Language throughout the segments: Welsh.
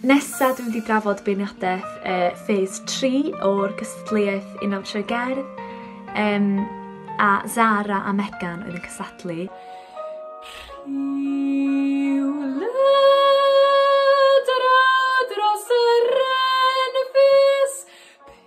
Nesa dwi'n mynd i drafod beirniadaeth uh, phase 3 o'r gystadleuaeth un am trwy gerdd um, a Zara a Megan oedd yn cysadlu.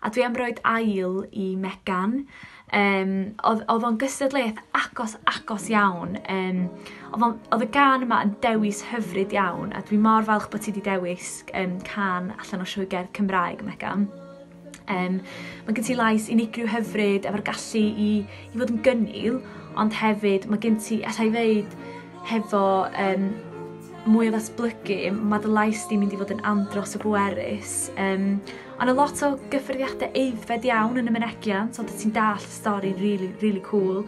A dwi am roed ail i Megan. Um, oedd, oedd o'n gystadleuaeth agos, agos iawn. Um, oedd, on, oedd y gan yma yn dewis hyfryd iawn, a dwi mor falch bod ti wedi dewis um, can allan o siwy gerdd Cymraeg, Megan. Um, mae gen ti lais unigryw hyfryd efo'r gallu i, i fod yn gynnil, ond hefyd mae gen ti, allai ddeud, Hefo yym mwy o ddatblygu ma' dy lais di'n mynd i fod yn andros o bwerus yym a ma' lot o gyffyrddiade aeddfed iawn yn y mynegiant ond wt ti'n dallt y stori rili rili cŵl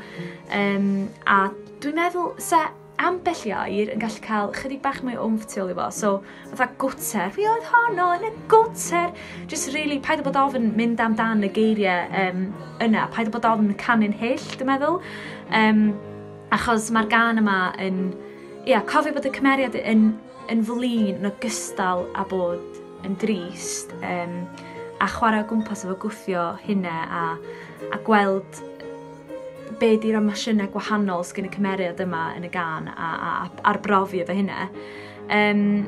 yym a dwi'n meddwl sa ambell i air yn gallu ca'l chydig bach mwy o wmff tu ôl i fo so fatha gwter fi oedd honno yn y gwter jyst rili paid â bod ofn mynd am dan y geirie yym yna paid â bod ofn canu'n hyll dwi meddwl yym Achos mae'r gân yma yn... Ia, cofio bod y cymeriad yn, yn flin yn ogystal â bod yn drist, um, a chwarae o gwmpas efo gwthio hynna a, a gweld be di'r emosiynau gwahanol sgyn y cymeriad yma yn y gan a, a, a arbrofi efo hynna. Um,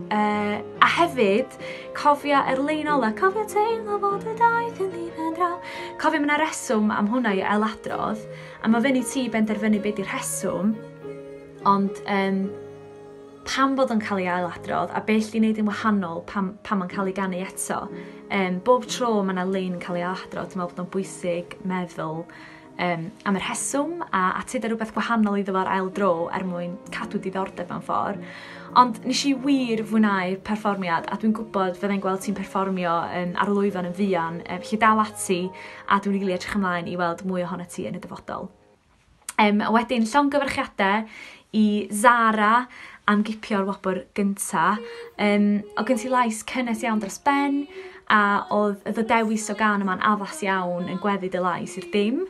uh, a hefyd, cofio er lein ola, cofio teimlo bod y daith yn ddiben draw. Cofio mae'n reswm am hwnna i ailadrodd, A mae fyny ti i benderfynu be di rheswm, ond um, pam bod o'n cael ei ailadrodd a beth i wneud yn wahanol pam, pam mae'n cael ei ganu eto. Um, bob tro mae yna lein yn cael ei ailadrodd, dwi'n meddwl bod o'n bwysig meddwl um, am y rheswm a atyd rhywbeth gwahanol iddo fo'r ail dro er mwyn cadw diddordeb mewn ffordd. Ond nes i wir fwynhau'r perfformiad a dwi'n gwybod fyddai'n gweld ti'n perfformio um, ar lwyfan yn fuan, um, felly dal ati a dwi'n rili edrych ymlaen i weld mwy ohonat ti yn y dyfodol. Um, a wedyn llongyfarchiadau i Zara am gipio'r wobr gynta. Um, o gen ti lais cynnes iawn dros ben a oedd y ddewis o gan yma'n addas iawn yn gweddu dy lais i'r dim.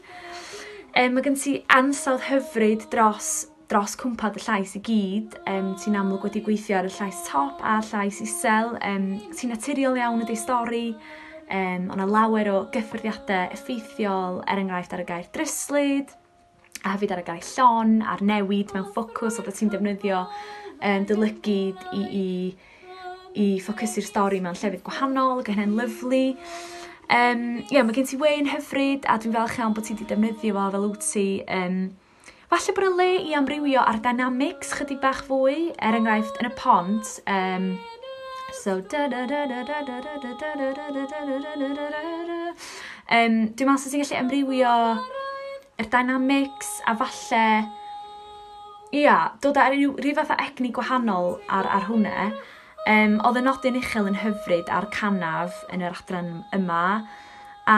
Um, mae gen ti ansawdd hyfryd dros dros cwmpa dy llais i gyd, um, ti'n amlwg wedi gweithio ar y llais top a'r llais isel, um, ti'n naturiol iawn ydy stori, um, ond a lawer o gyffyrddiadau effeithiol, er enghraifft ar y gair dryslyd, a hefyd ar y gair llon, a'r newid mewn ffocws oedd ti'n defnyddio um, dylygyd i, i, i ffocysu'r stori mewn llefydd gwahanol, gyda hynny'n lyflu. Um, yeah, mae gen ti wein hyfryd a dwi'n falch iawn bod ti wedi defnyddio fo fel wyt ti um, Falle bod y le i amrywio ar dynamics chydig bach fwy, er enghraifft yn y pont, um, so um, dwi'n meddwl sy'n ti'n gallu amrywio y dynamics a falle ia, dod ar ryw, ryw fath o egni gwahanol ar, ar hwnna. Um, oedd y nodyn uchel yn hyfryd a'r canaf yn yr adran yma a